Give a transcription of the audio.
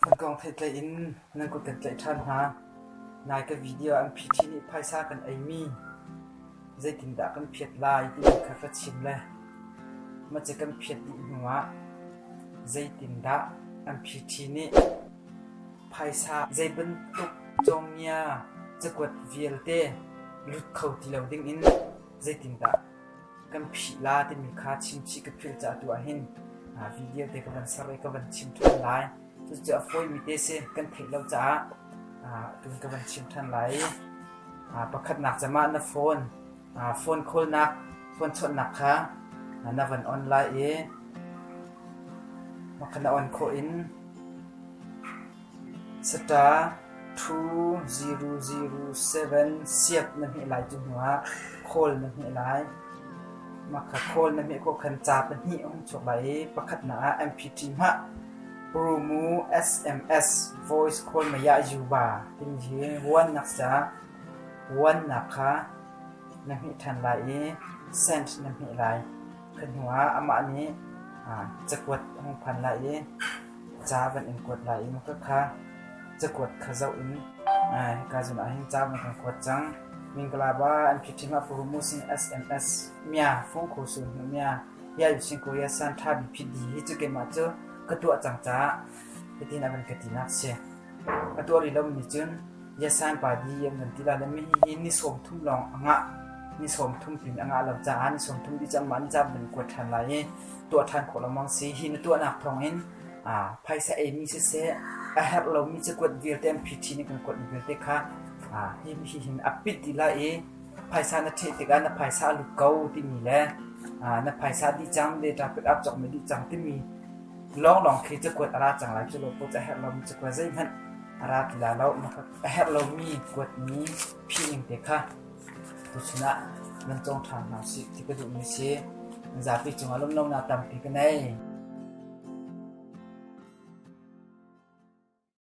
Na kong theitleih in na kut kan tlaih ṭhan hna. Nai ka video an phiṭhi nih phaisa kan eimi zeitindah kan phiat lai timi kha ka chim le mace kan phiat dih hnuah zeitindah an phiṭhi nih phaisa zeibantuk cawnggia cakuat vialte lut kho ti lo dingin zeitindah Kan phih la timi kha chimchih ka philh caah atu ahhin video te ka van ser i ka van chim ṭhan lai. Cucu a fawimi te si kan theih lo caah tun ka van chim ṭhan lai i pakhatnak cem ah na phone phone khawlnak phone chawnhnak kha na van on lai i mah kha na on khawh in Saṭa ṭhu ziru ziru seven siap na hmeh lai cu hnuah khawl na hmeh lai. Mahka khawl na hmeh khawh khan ca pahnih a hung chuak lai i pakhatnak ah MPT hmah Prumu SMS voice khawl meiah Yuba timi hi Wannak ca Wannak kha na hmeh ṭhan lai i cent na hmeh lai. Kha hnuah amah nih cakuat a hung phan lai i Ca van in kuat lai i motor kha cakuat kha zoh in hika zun ah hin ca van kan kuat cang. Mingkalaba an khi ṭhim ah furu mu sing SMS mia fung khu sun nu mia ya yu sing ko ya san ṭha bi phi di hi cu keimah cu ka tuah cang caah hitin a van ka ti nak si. A tuah rih lomi nih cun Ngiasan padi an kan ti lai lo mi hihi ni sawm thum lawng a ngah. Ni sawm thum pin a ngah lo caah ni sawm thum dih cang mah ni caan kan kuat ṭhan lai i tuah ṭhan khawh lengmang si. Hi na tuahnak thawng in aa, phaisa ei mi siseh a herh lo mi cakuat vialte an phiṭhi in kan kuat mi vialte kha aa, hi hi hin a pit dih lai i phaisa na ṭheh tikah na phaisa a lut ko timi le aa, na phaisa dih cang le ṭa pick up cawk mi dih cang timi Lawnglawng khi cakuat a ra cang lai. Cu lopaw cu a herh lomi cakuat zeihmanh a ra ti lai lo. A herh lomi kuatmi phining te kha tuchun ah nan cawng ṭhan hna usih ti ka duhmi a si. Zapi cungah lunglonak tampi ka ngei.